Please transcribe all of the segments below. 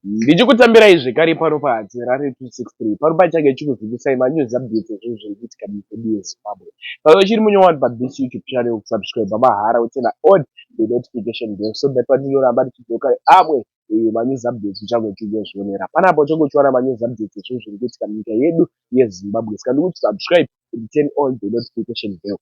Ndichikutambirai zvekare pano pa Harare 263 pano pachange chikuzivisai ma news updates ezvinhu zviri kuitika mukwedu ye Zimbabwe. Kana uchiri munyowani pa this YouTube channel kusubscriber mahara utsena on the notification bell so that pandinoramba ndichidzoka amwe eh, ma news updates uchange uchingozvionera panapa uchange uchiwana ma news updates ezvinhu zviri kuitika munyika yedu ye Zimbabwe saka ndikuti subscribe and turn on the notification bell.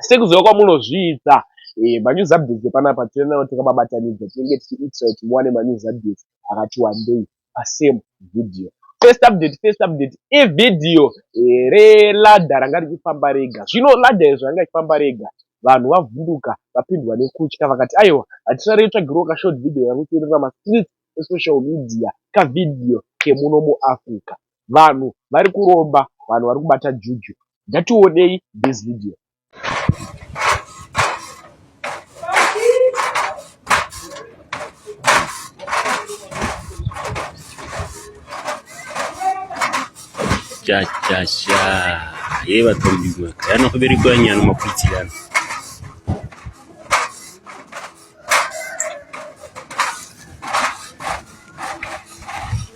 Sekuziva kwamunozviita eh, manews updates epanapa tiri nawo takababatanidza tinenge tichiitisa kuti muwane manews updates akati wandei pasame video. First update, first update ivideo eh, reladder ranga richifamba rega. Zvino ladder izvo ranga richifamba rega vanhu vavhunduka vapindwa nekutya vakati aiwa hatisare yotsvagirwa ka short video yakuterera ma streets esocial media kavideo kemuno muAfrica. vanhu vari kuromba vanhu vari kubata juju ngationei this video chachasha ye vatombigwa kana kuberekwa nyana maputsi yana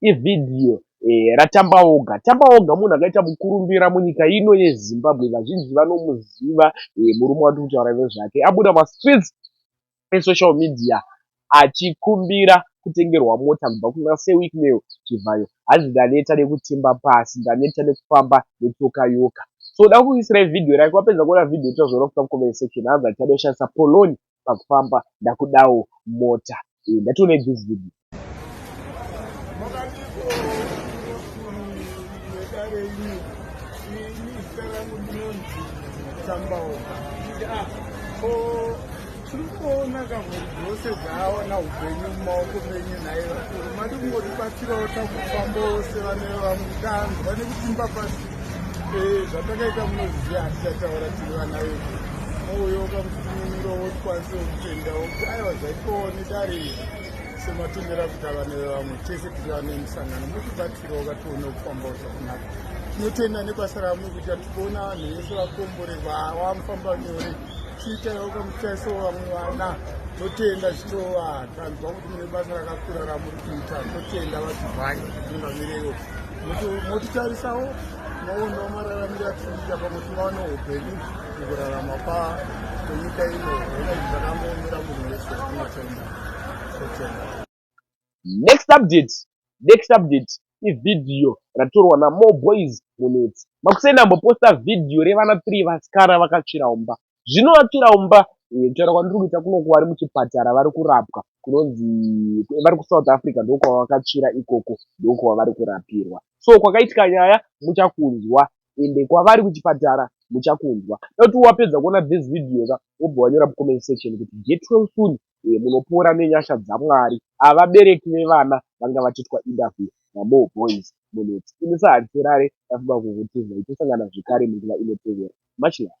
Ivhidhiyo eh, raTambaoga. Tambaoga munhu akaita mukurumbira munyika ino yeZimbabwe. Vazhinji vanomuziva eh, murume wati kutaura nezvake. Abuda mastreets esocial media achikumbira kutengerwa mota kubva kuna Sir Wicknell Chivhayo. Hanzi ndaneta nekutimba pasi, ndaneta nekufamba netsoka yoka. So da kukuisira ivhidhiyo rake wapedza kuona vhidhiyo tozviona kuta comment section. Hanzi achadoshandisa poloni pakufamba ndakudawo mota iyi ndatione this video tikuona kavo dzose dzaaona upenyu mumaoko menyu nhaye vakuru mati kungotibatsirawo takufamba ose vane vamutanzwa nekutimba pasi zvatakaita munozviziva hatichataura tiri vana vedu mouyoka mufuniro wotikwanise kutendawo kuti aiwa zvaitwawo nedare izvi sematomera kuita vana vevamwe tese tiri vana emusangano mutibatsira wakatione kufambawo zvakunaka tinotenda nebasa ramwe kuita tikuona vanhu vese vakombore vawamufamba nyore tiitaiwo kamutaiso vamwe vana totenda zvichova tanzwa kuti mune basa rakakura ramuri kuita totenda vazivhai ungamireyo motitarisawo maono mararamiro atinoita pamwe tivaone upenyu mukurarama pa kwenyika ino hona izvi zvakangoomera munhu wese anotenda kutenda next update next update ivhidhiyo ratorwa namore boys munetsi makuseni amboposta vhidhiyo revana three vasikana vakatsvira umba zvinovakira umba eh, kutaura kwandiri kuita kunoku vari muchipatara vari kurapwa kunonzi eh, vari kusouth africa ndokwavakatsvira ikoko ndokwavari kurapirwa so kwakaitika nyaya muchakunzwa ende kwavari kuchipatara muchakunzwa dati wapedza kuona this video ka wobva wanyora mucomment section kuti get well soon eh, munopora nenyasha dzamwari avabereki vevana vanga vachiitwa interview namore boys munetsi ini sahansirare ndafunga kukutizai tosangana zvekare munguva inotevera much love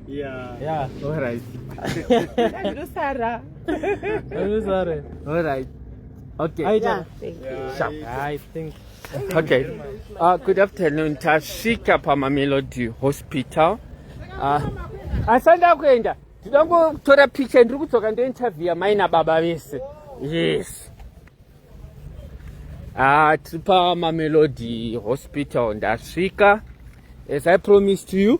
Yeah. Yeah. All right. Sara. Sara. All right. Okay. I, yeah. yeah. I think. Okay. Uh, good afternoon. Tashika Pamamelody Hospital. Uh, asanda kuenda tinoda kutora picha ndiri kudzoka ndointerviewa mai nababa vese yes ah, tiri pamamelody hospital ndasvika as i promised you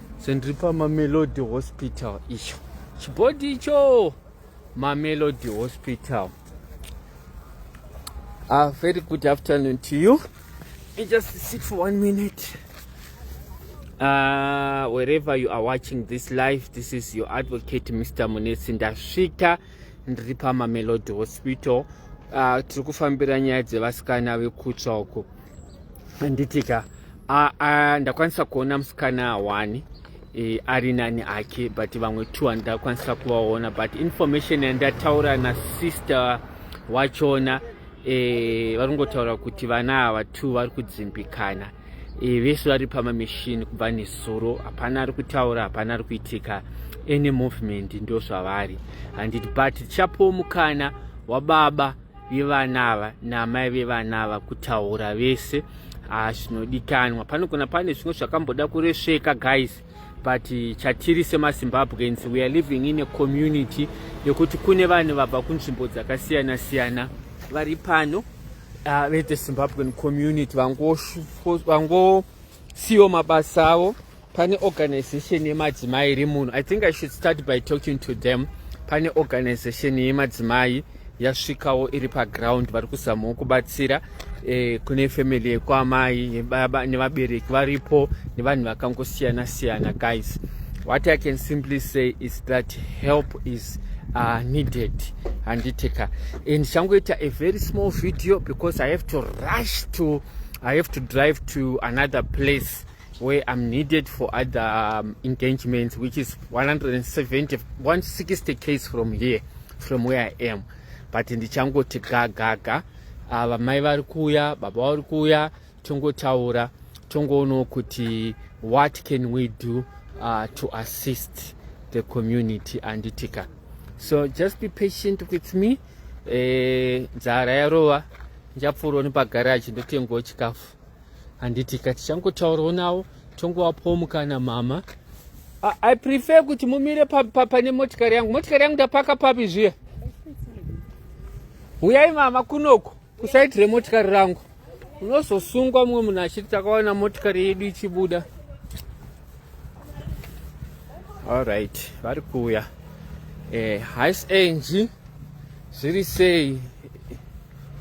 so ndiri pamamelody hospital icho chibhodhi icho mamelody hospital a uh, very good afternoon to you I just sit for one minute uh, wherever you are watching this live this is your advocate mr munetsi ndasvika ndiri pamamelody hospital uh, tiri kufambira nyaya dzevasikana vekutsva uko handitika ndakwanisa kuona musikana wani e, ari nani ake but vamwe two handakwanisa kuvaona but information yandataura nasister wachona e, vari kungotaura kuti vana ava two vari kudzimbikana e, vese vari pamamishini kubva nezuro hapana ari kutaura hapana ari kuitika any movement ndozvavari handiti but tichapowo mukana wababa vevana ava naamai vevana ava kutaura vese ah, zvinodikanwa panogona pane zvimwe zvakamboda kuresveka guys but chatiri semazimbabweans we are living in a community yekuti kune vanhu vabva kunzvimbo dzakasiyana siyana vari pano uh, ah, vethezimbabwean community vangosvika vango, siwo mabasa avo pane organization yemadzimai iri muno i think i should start by talking to them pane organization yemadzimai yasvikawo iri paground vari kuzamawo kubatsira eh, kune family yekwaamai nevabereki varipo nevanhu vakangosiyana siyana guys what i can simply say is that help is uh, needed handiteka and changoita a very small video because i have to rush to i have to drive to another place where i'm needed for other um, engagements which is 170 160 case from here from where i am but ndichangoti gagaga ava ah, mai vari kuuya baba vari kuuya tongotaura tongoonawo kuti what can we do uh, to assist the community anditika so just be patient with me eh, nzara yarova ndichapfuurawo nepagaraji ndotengawo chikafu handiti ka tichangotaurawo nawo tongowapawo mukana mama I, i prefer kuti mumire pane pa, pa, motikari yangu motikari yangu ndapaka papi zviya huyai mama kunoko kusaiti remotikari rangu unozosungwa mumwe munhu achiti takawana motikari yedu ichibuda allright vari kuuya eh, hais enji zviri sei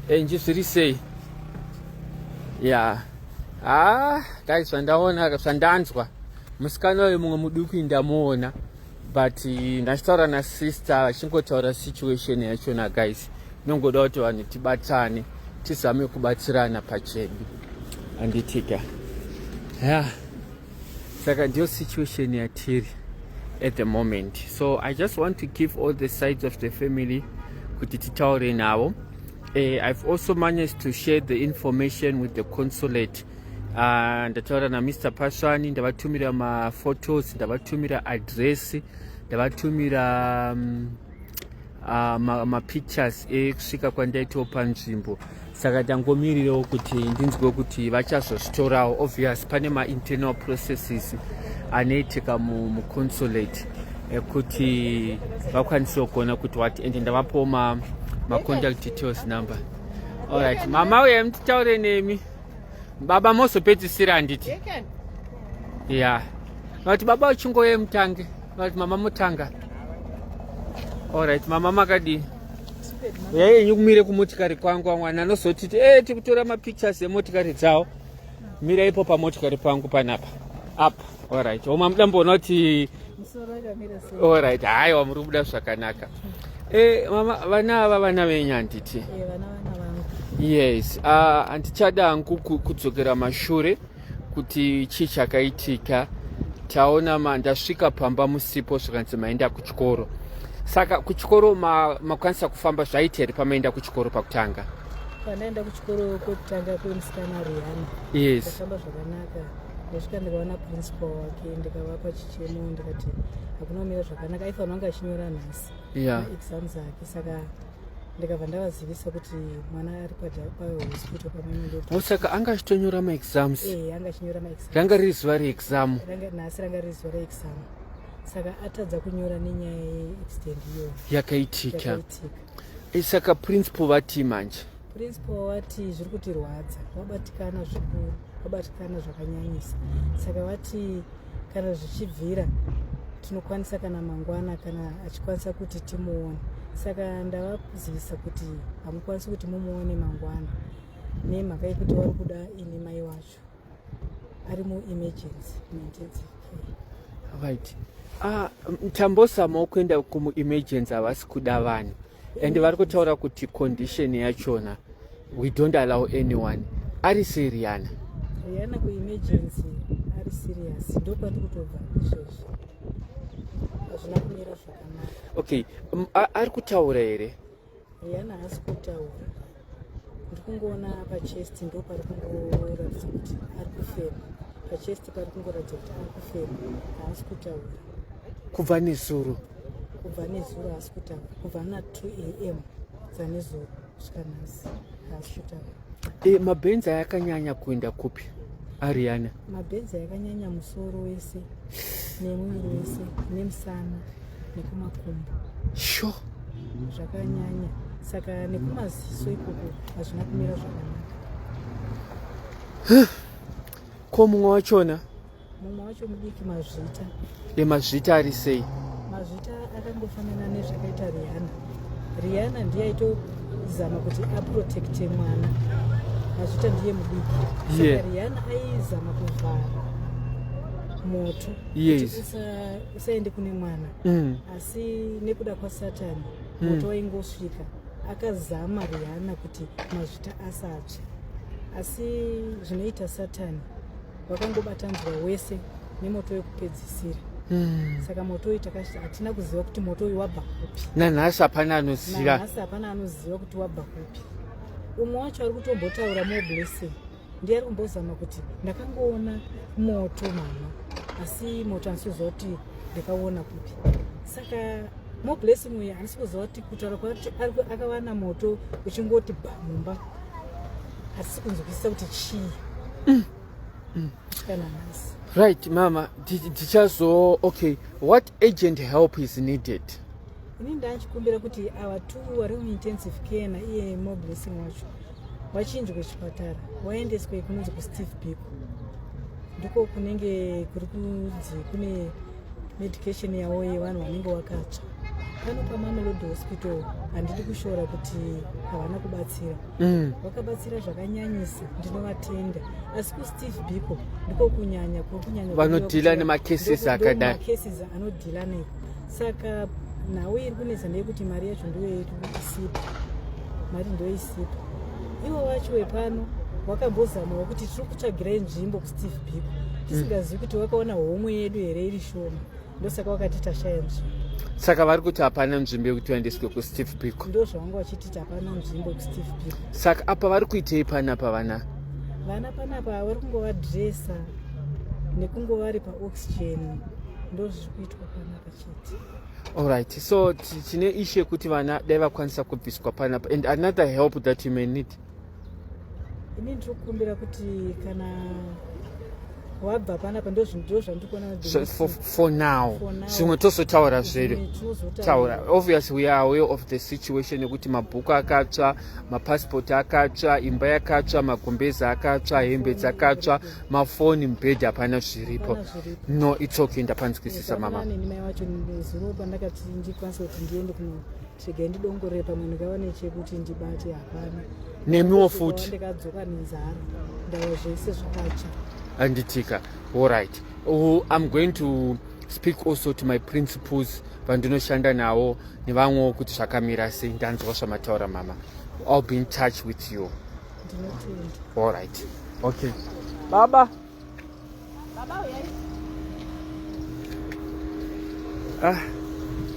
enji zviri sei ya haa ah, dai zvandaona zvandanzwa musikana uyo mumwe muduku indamuona but ndachitaura nasister vachingotaura situation yachona guys inongoda kuti vanhu tibatane tizame kubatsirana pachedu anditika ya saka ndiyo situation yatiri at the moment so i just want to give all the sides of the family kuti titaure navo uh, i've also managed to share the information with the consulate Ah, ndataura namr pasvani ndavatumira maphotos ndavatumira adress ndavatumira mm, ah, mapictures ekusvika kwandaitawo panzvimbo saka ndangomirirawo kuti ndinzwe kuti vachazozvitorawo obvious pane mainternaal processes anoitika muconsulate ekuti vakwanisewo kuona kuti wati ende ndavapowo macontact details number allright mama uye mtitaure nemi baba mozopedzisira handiti ya vati baba uchingoye mutange vati mama mutanga allright mama makadii uyai yenyu kumire kumotikari kwangu amwana anozotiti e tikutora mapictures emotokari dzawo mira ipo pamotikari pangu panapa apa Alright, oma muda mboona kuti alright, haiwa muri kubuda zvakanaka. Eh, mama vana ava vana venyu handiti? Eh, vana vana vangu. Yes, ah handichada hangu kudzokera mashure kuti chii chakaitika. Taona ma ndasvika pamba musipo zvikanzi maenda kuchikoro. Saka kuchikoro makwanisa ma kufamba zvaita here pamaenda kuchikoro pakutanga? Panaenda kuchikoro kwekutanga kwemusikana Rihanna. Yes. Zvakamba zvakanaka. ndasvika ndikaona principal wake ndikavapa chichemo ndikati hakuna kumira zvakanaka aifanira kunge achinyora nhasi exam dzake saka ndikabva ndavazivisa kuti mwana ari pahospital pamwe saka anga achitonyora maexams eh, anga achinyora maexam ranga riri zuva reexam nhasi ranga riri zuva reexam saka atadza kunyora nenyaya yeextend iyo yakaitika eh, saka principal vatii manje Principal wati zviri kutirwadza, wabatikana zvikuru, wabatikana zvakanyanyisa. Saka wati kana zvichibvira tinokwanisa kana mangwana kana achikwanisa kuti timuone. Saka ndavazivisa kuti hamukwanisi kuti mumuone mangwana nemhaka yekuti wari kuda ini mai wacho ari muemergency muintensive care. Right. Ah, tambosamao kuenda kumuemergency havasi kuda vanhu. and vari kutaura kuti condition yachona we don't allow anyone ari sei riana riana kuemergency ari serious ndokwati kutobva izvozvo hazvina kumira zvakanaka okay um, ari kutaura here riana haasi kutaura ndiri kungoona pachest ndo pari kungoratidza kuti ari kufema pachest pari kungoratidza kuti ari kufema haasi kutaura kubva nezuro kubva nezuro haasi kutaura kubva na 2 am dzanezuro kusvika nhasi haasi kutaura e, eh, mabhenzi ayakanyanya kuenda kupi ariana mabhenzi ayakanyanya musoro wese nemwiri wese nemusana nekumakumbo sho zvakanyanya saka nekumaziso ikoko hazvina kumira zvakanaka ko mumwe wachona mumwe wacho mudiki mazvita emazvita ari sei mazvita akangofanana nezvakaita riana riana ndiye aitozama kuti aprotecte mwana mazvita ndiye mudiki saka riana aizama kuvhara moto yes. Saende kune mwana mm. asi nekuda kwasatani mm. moto waingosvika akazama Rihanna kuti mazvita asatsve asi zvinoita satani vakangobatanzwa wese nemoto wekupedzisira Hmm. saka moto uyu hatina kuziva kuti moto uyu wabva kupi nanhasi hapana anoziva nanhasi hapana anoziva kuti wabva kupi umwe wacho ari kutombotaura more blessing ndiari kumbozama kuti ndakangoona moto mama asi moto handisi kuziva kuti ndakaona kupi saka more blessing uye handisi kuziva kuti kutaura kwakuti akawana moto uchingoti ba mumba hatisi kunzwisisa kuti chii mm. mm. kana nhasi right mama tichazo okay what agent help is needed ini ndachikumbira kuti ava two vari muintensive care naiye more blessing wacho wachinjwe chipatara waendeswe kunonzi kusteve biko ndiko kunenge kuri kunzi kune medication yavo yevanhu vanenge vakatsva pano pamamelodi hospital handidi kushora kuti havana kubatsira mm. vakabatsira zvakanyanyisa ndinovatenda asi kusteve biko ndiko kunyanya kuri kunyanya vanodhila nemacases akadaimacases anodhila nei saka nhau iri kunetsa ndeyekuti mari yacho ndiyo yedu isipo mari ndiyo isipo ivo vacho vepano wakambozamawo kuti tiri kutsvagira inzvimbo kusteve biko tisingazivi kuti wakaona homwe yedu here iri shoma ndosaka wakati tashaya nzvimbo saka vari kuti hapana nzvimbo yekuti vaendeswe kusteve biko ndo zvavanga vachititi hapana nzvimbo kusteve biko saka apa vari kuitei panapa vana vana panapa vari kungovadresa nekungovari paoxygen ndozviri kuitwa Alright, so tine issue yekuti vana dai vakwanisa kubviswa panapa and another help that you may need. Ini ndiri kukumbira kuti kana wabva panapa ndozvindiwo zvandiri kuona so, for, for now zvimwe tozotaura zvere taura obvious we are aware of the situation yekuti mabhuku akatsva mapasipoti akatsva imba yakatsva magumbezi akatsva hembe dzakatsva mafoni mubhedhi hapana zviripo no its okay ndapanzwisisa mama mai wacho zuro pandakati ndikwanisa kuti ndiende kunotsvega ndidongorere pamwe ndikawane chekuti ndibate hapana nemiwo futi ndikadzoka nenzara ndava zvese zvakacha anditika all right oh, i'm going to speak also to my principles vandinoshanda nawo nevamwewo kuti zvakamira sei ndanzwa zvamataura mama i'll be in touch with you All right. Okay. Baba. Baba uyai. Ah.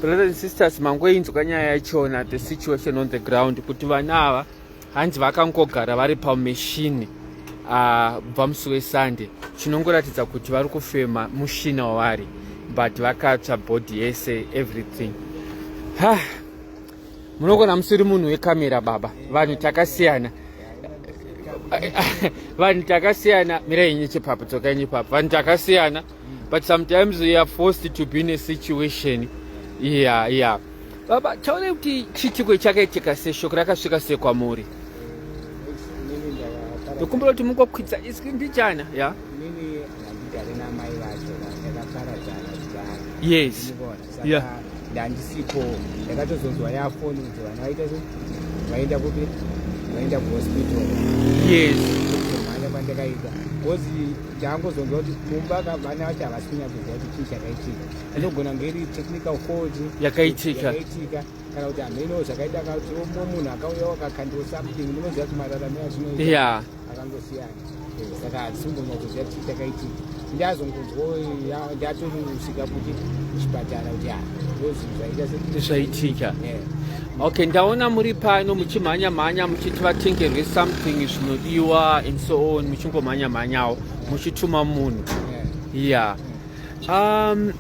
Brothers and sisters, mangoinzwa nyaya yachona the situation on the ground kuti vana ava hanzi vakangogara vari pameshini ah, bva musi wesunday chinongoratidza kuti vari kufema mushina wavari but vakatsva body yese everything ha ah. munogona musiri munhu wekamera baba vanhu takasiyana vanhu takasiyana mirai inye chepapo dzoka inye papo vanhu takasiyana but sometimes we are forced to be in a situation yeah yeah baba taona kuti chiitiko chakaitika seshoko rakasvika sekwamuri ndokumbira kuti mungokwidza iswi ndichana ya yes yeah. ndandisipo ndakatozonzwa yafoni kuti vana vaita zve vaenda kupi vaenda kuhospital yes mhanya kwandakaita bcause ndaangozonzwa kuti mumba vana vacho havasi kunyatsoziva kuti chii chakaitika anogona kunge iri technical fault yakaitika kana kuti hameno zvakaita kuti munhu akauya wakakandiwa something munoziva kuti mararamo azvinoita yeah. akangosiyana eh, saka hatisombonyatsoziva kuti takaitii ndazongonzwa ndatomusvika kuti kuchipatara kuti ah, ndozvaitasezvaitika eh. okay ndaona muri pano muchimhanya mhanya muchiti vatengerwe something zvinodiwa and so on muchingomhanya mhanyawo muchituma munhu eh. yeah um,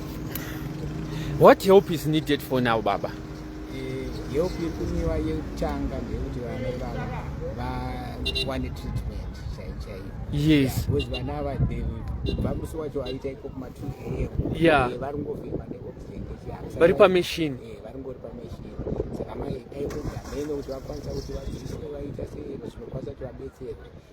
what help is needed for now baba help yekumiwa yekutanga ndeyekuti vana ivava vawane treatment chaichaiyo yes because vana ava kubva musi wacho aita iko kuma two am yeah eh, vari ngovhima neoxygen vari pamachine eh, vari ngori pamachine saka mai dai kugameno kuti vakwanisa kuti vadziiswe vaita sei zvinokwanisa kuti vabetserwe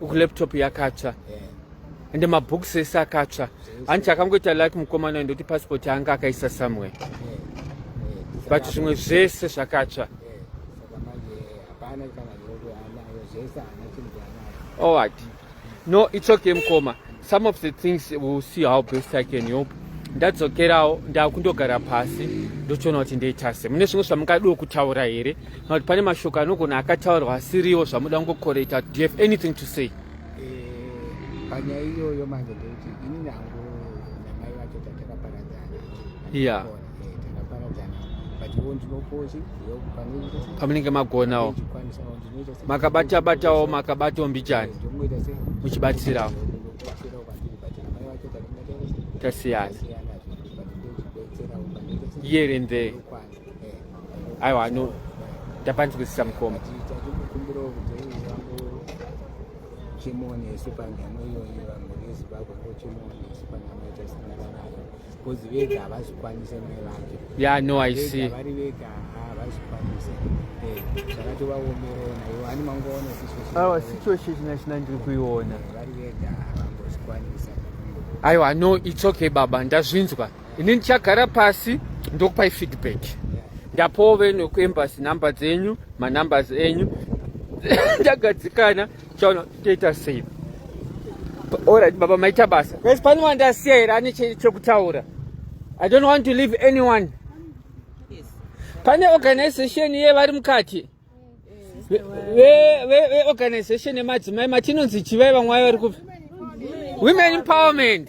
uku laptop yakatsva yeah. ende mabooks ese akatsva hanti chakangoita like mukomana ndoti passport anga akaisa somewhere yeah. yeah. but zvimwe zvese zvakatsva yeah. All right. No, it's okay, Mkoma. some of the things will see how best i can help ndadzokerawo ndakundogara pasi ndochiona kuti ndeitase mune zvimwe zvamungadiwo kutaura here kana kuti pane mashoko anogona akataurwa asiriwo zvamuda kungokoreta do you have anything to say eh, panyaya iyoyo manje ndeuti ini nangu namai vacho tatakaparadzana yeah. pamunenge magonawo makabata batawo makabatawo mbichani muchibatsirawo tasiyana here and there aiwa no ndapanzwisisa mukoma chimone isu panyama iyoyo vamhuri yezimbabwe ko chimone isu panyama itasinaa Because vega havazvikwanise mai vake. Yeah, no, I see. Vari vega havazvikwanise. Eh, zvakatovaomerera naivo ani mangoona situation. Awa situation china ndiri kuiona. Vari vega havambozvikwanisa. Aiwa, no, it's okay baba, ndazvinzwa. Ini ndichagara pasi ndokupai feedback. Ndapowo venu kuembassy number dzenyu, manumbers enyu. Ndagadzikana Chono toita sei? Alright baba maita basa. Guys pane wandasiya here ane chekutaura. I don't want to leave anyone. Yes. Pane organization ye vari mukati. Ve ve ve organization yemadzimai matinonzi chivai vamwe vari kupi? Women empowerment.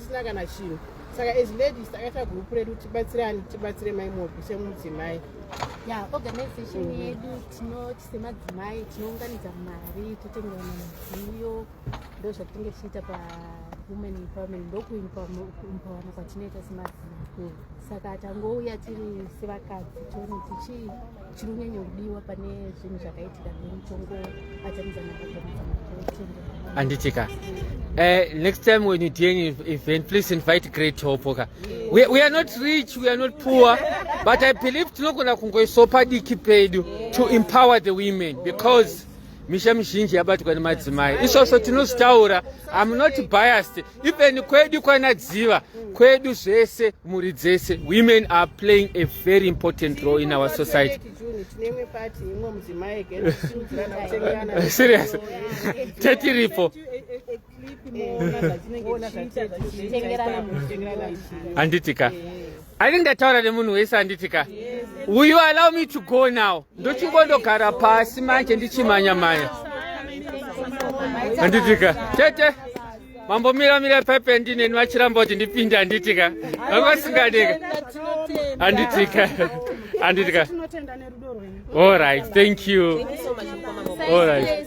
zvisina kana chinhu saka as ladies takaita group redu tibatsirani tibatsire mai mopi semudzimai ya organization mm. yedu tinoti semadzimai tinounganidza mari totengerana midziyo ndo zvatinenge tichiita pawomen empowerment ndokuimpawana kwatinoita semadzimai saka tangouya tiri sevakadzi tione tichi chinonyanya kudiwa pane zvinhu zvakaitika nemutongo atamidzana anditika Uh, eh, next time when you do any event, please invite great hope. Okay? Yeah. We, we are not rich, we are not poor, but I believe tinogona kungoisopa diki pedu to empower the women because misha mizhinji yabatwa nemadzimai. Isvosvo tinozvitaura, I'm not biased. even kwedu kwana dziva kwedu zvese mhuri dzese women are playing a very important role in our society serious tetiripo handiti ka I think ndataura nemunhu wese anditi ka will you allow me to go now ndochingondogara pasi manje ndichimanya manya anditi ka tete mambomira mira pepe ndineni vachiramba kuti ndipinde anditi ka vangasingadeka anditi ka anditi ka all right thank you all right